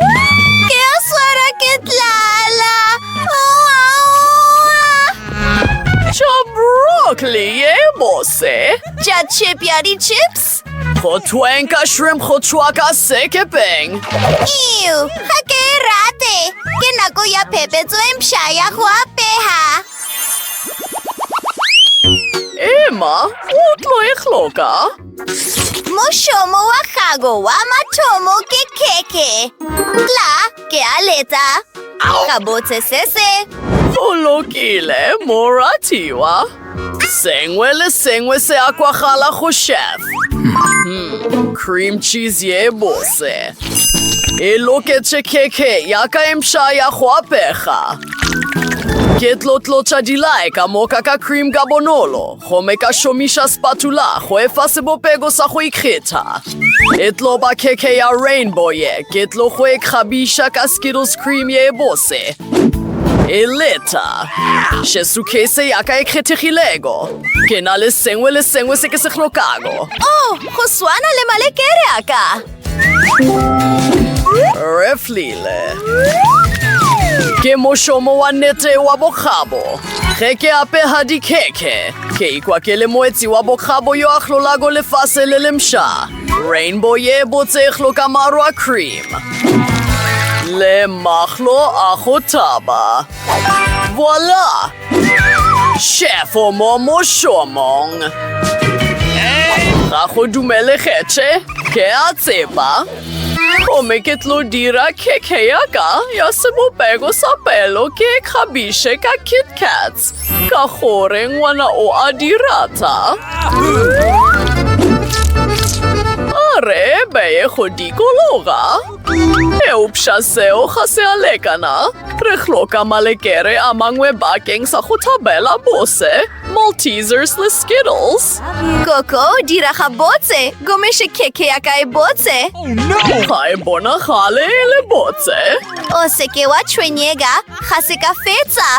Ke a swara ke tlala. Tša broccoli ye bose. Tša chip ya di-chips. Go thweng ka shrimp go tšhwa ka sekepeng. Ew, ga ke e rate. Ke nako ya phephetso e mpšha ya go apega. Emma, o tlo e hloka. Mošomo wa gago wa mathomo ke khekhe. Tla ke a letsa. Ka botse se se. O lokile, moratiwa. Sengwe le sengwe se a kwagala go chef. Hmm, cream cheese ye bose. E loketše khekhe ya ka e mpša ya go apega. Ke tlotlotša dilae ka moka ka cream ka bonolo. Gomme ka šomiša spatula go efa sebopego sa go ikgetha. E tlo ba khekhe ya rainbow ye, ke tlo go e kgabiša ka Skittles cream ye e bose. E leta. Še sukhese ya ka e kgethegilego. Ke na le sengwe le sengwe se ke se hlokago. Oh, go swana le malekere a ka. Re flile. Ke mošomo wa nete wa bokgabo. Ge ke apega dikhekhe, ke ikwa ke le moetsi wa bokgabo yo a hlolago lefase le lemša. Rainbow ye botse e hloka maro a cream le mahlo a go thaba. Voila! Chef o mo mošomong. Ga go dumele kgetše, ke a tseba. Gomme ke tlo dira keke ya ka ya sebopego sa pelo ke e kgabiše ka Kit Kats, ka gore ngwana o a di rata. A re beye go dikologa. Eupša seo ga se a lekana. Re hloka malekere a mangwe bakeng sa go thabela bose, Maltesers le Skittles. Koko, dira gabotse, gomme še khekhe ya ka e botse. Ga e bonagale e le botse. O se ke wa tshwenyega, ga se ka fetsa.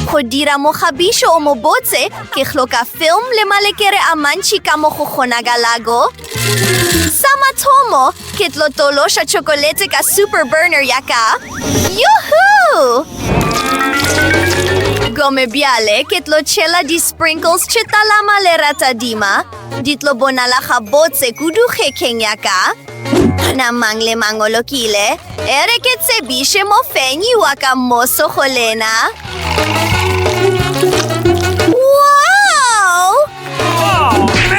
Go dira mogabišo o mobotse, ke hloka film le malekere a mantši ka mo go kgonagalago. Sa mathomo, ke tlo tološa chocolate ka super burner ya ka. Yuhu! Gome bjale ke tlo tšhela di-sprinkles tše talama le ratadima. Di tlo bonala gabotse kudu kgekeng ya ka. Namang le mangolokile, e re ke tsebiše mofenyi wa ka moso go lena.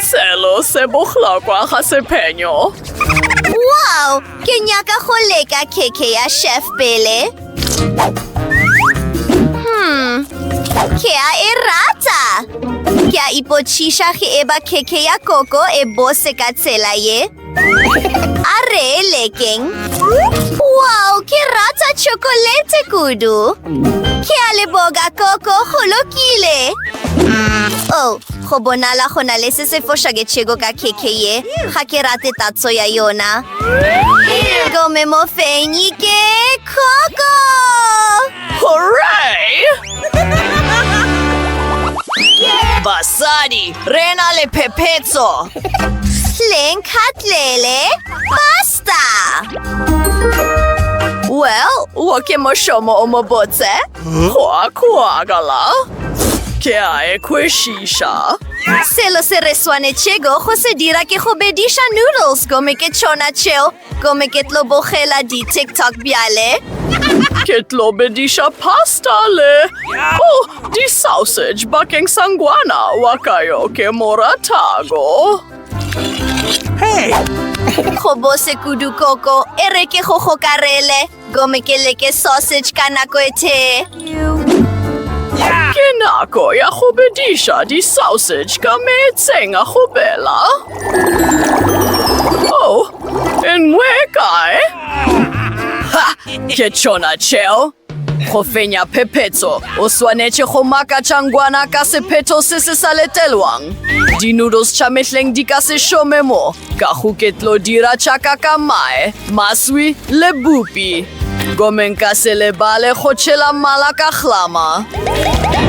Selo se bohlokwa ga sephenyo. Wow! Ke nyaka go leka keke ya chef pele. Hmm, ke a e rata. Ke a ipotsiša ge e ba keke ya koko e bose ka tsela ye. A re lekeng. Wow, ke rata chocolate kudu. Ke a leboga koko go lokile. Oh, go bonala go na le se se fošaketšego ka keke ye. Ga ke rate tatso ya yona. Gome mofenyi ke koko. Hooray! Basadi, re na le phephetso! Leng khatlele, basta! Well, wo ke mošomo o mo botse. Kwa kwagala. Ke a e kwešiša. Selo se re swanetšego go se dira ke go bediša noodles gomme ke tšona tšeo Gomme ke tlo bogela di-tiktok bjale. Ke tlo bediša pasta le oh, di-sausage bakeng sa ngwana wa ka yo ke mo ratago. Hey! Go bose kudu koko, e re ke go gokarele. Gome ke leke sausage ka nako e tee. Ke nako ya go bediša di-sausage ka meetseng a go bela. Oh, en mwe kae? Ha, ke tšona tšeo. Go fenya phephetso, o swanetše go makatša ngwana ka sephetho se se sa letelwang. Di-noodles tša mehleng di ka se šome mo. Ka go ke tlo dira tšaka ka mae, maswi le bupi. Gomme nka se lebale go tšhela mala ka hlama.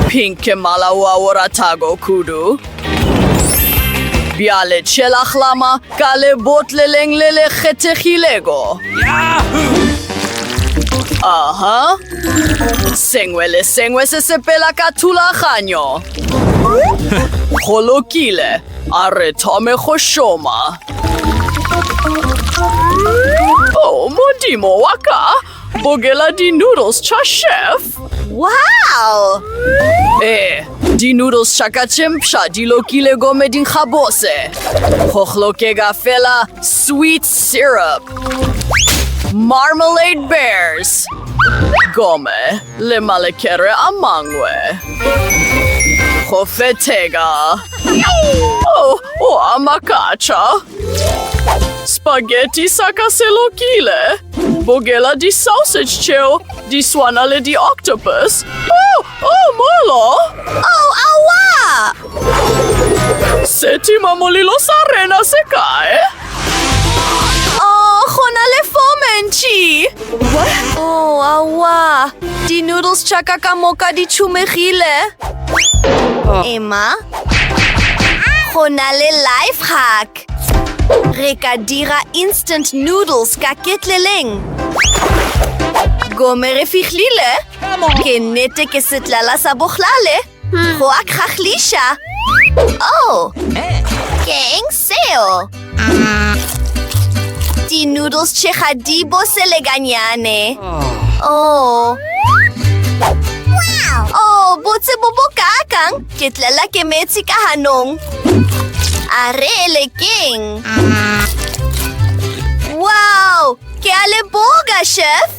Pink ke mala wo a wo ratago kudu. Bjale tšhela hlama ka lebotleleng le le kgethegilego. Aha. Sengwe le sengwe se sepela ka thulaganyo. Go lokile. A re thome go šoma. Oh, modimo wa ka! Bogela di-noodles tša chef! Wow! Eh, di-noodles tša ka tše mpsha di lokile gomme di nkga bose. Go hlokega fela sweet syrup. Marmalade Bears! Gomme Le malekere a mangwe. Go fethega. Oh, o a makatša. Spaghetti sa ka se lokile. Bogela di-sausage tšeo di swana le di-octopus. Oh, oh, molo! Oh, aowa! Setima molilo sa rena se kae? Oh, go na le fo mentši. Oh, awa. Di-noodles tša ka ka moka di tšhumegile. Emma, go na le life hack. Re ka dira instant noodles ka ketleleng. Gome re fihlile. Ke nnete ke setlala sa bohlale. Go a kgahliša! Oh! Ke eng seo? Di-noodles tše ga di bose le ganyane. Oh! Oh, botse bo bo kakang! Ke tlela ke metsi ka ganong. A re e le keng? Wow! Ke a leboga, chef!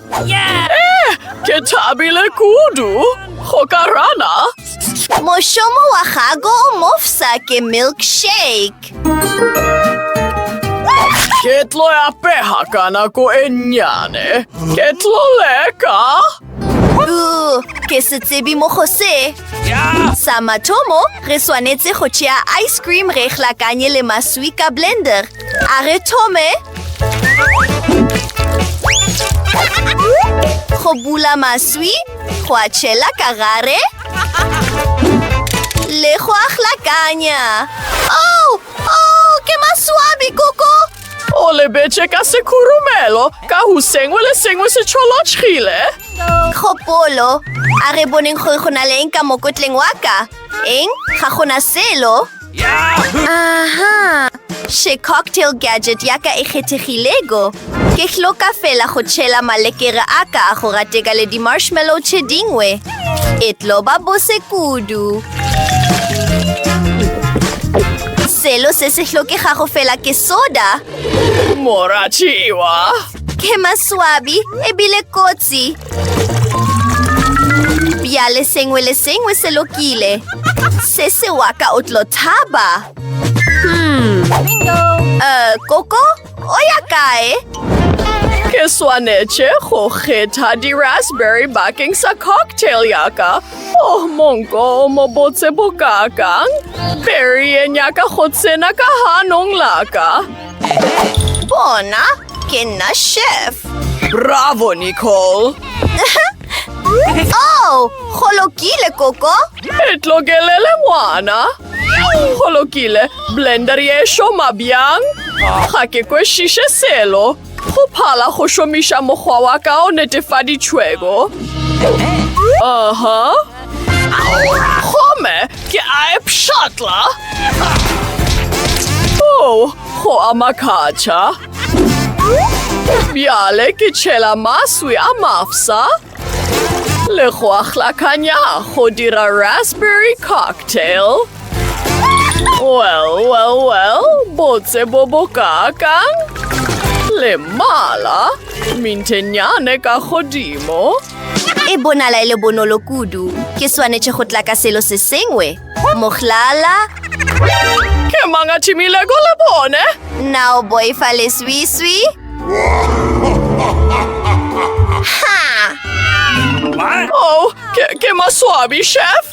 Eh, ke thabile kudu go ka rana mošomo wa gago o mofsa ke milkshake ke tlo ya pega ka nako e nnyane ke tlo leka ke se tsebe mo go se sa mathomo re swanetse go tšea ice cream re hlakanye le maswi ka blender A re thome go bula maswi go a tšhela ka gare le go a hlakanya oh, oh, ke maswabi koko o lebetše ka sekhurumelo ka go sengwe le sengwe se tšholotšhile kgopolo a re boneng gore go na le eng ka mokotleng wa ka eng ga gona selo Aha! She cocktail gadget ya ka e kgethegilego. Ke hloka fela go tšhela malekere a ka go rateka le di-marshmallow tše dingwe. E tlo ba bose kudu. Selo se se hlokegago fela ke soda. Moratiwa! Ke maswabi ebile kotsi. bjale sengwe le sengwe se lokile se se wa ka o tlo thaba hmm. uh, koko o ya kae ke swanetše go kgetha di-raspberry bakeng sa cocktail yaka oh monko o mo botse bokakang berry e nyaka go tsena ka ganong laka bona Ke nna chef. Bravo, Nicole! Oh, go lokile, Koko. E tlokelele ngwana. Go lokile, blender ye šoma bjang? Ga ke kwešiše selo. Go phala go šomiša mokgwa wa ka o netefaditšhwego. Aha. Uh -huh. Aura, gomme ke a e pšhatla. O, oh, go a makatša. Bjale ke tšhela maswi a mafsa le go a hlakanya go dira raspberry cocktail. Well, well, well, botse bo bo kakang. Le mala, mintenyane ka godimo. E bonala e le bonolo kudu. Ke swanetše go tla ka selo se sengwe. Mohlala. Ke mang a thimilego le bone? Na o boifa leswiswi? Ha! Oh, ke, ke maswabi, chef.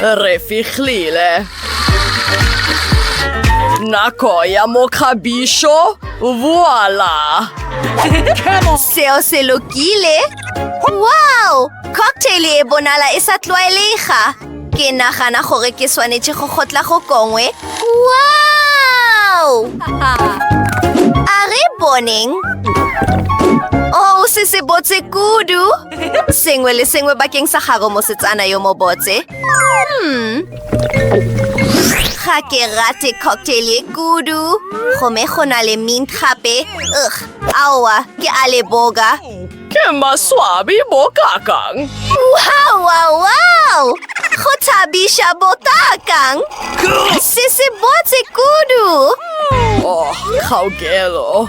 Re fihlile. Nako ya mokgabišo voila. Seo se lokile. Wow! Cocktail e bonala e sa tlwaelega. Ke nagana gore ke swanetše go gotla go kongwe. Wow! A re boneng. Oh, se se botse kudu. sengwe le sengwe bakeng sa gago mosetsana yo mobotse hmm. ga ke rate cocktail ye kudu gome go na le mint gape ug aowa ke a le boga ke maswabi bokakang wawawaw go thabiša bokakang se se botse kudu oh kgaokelo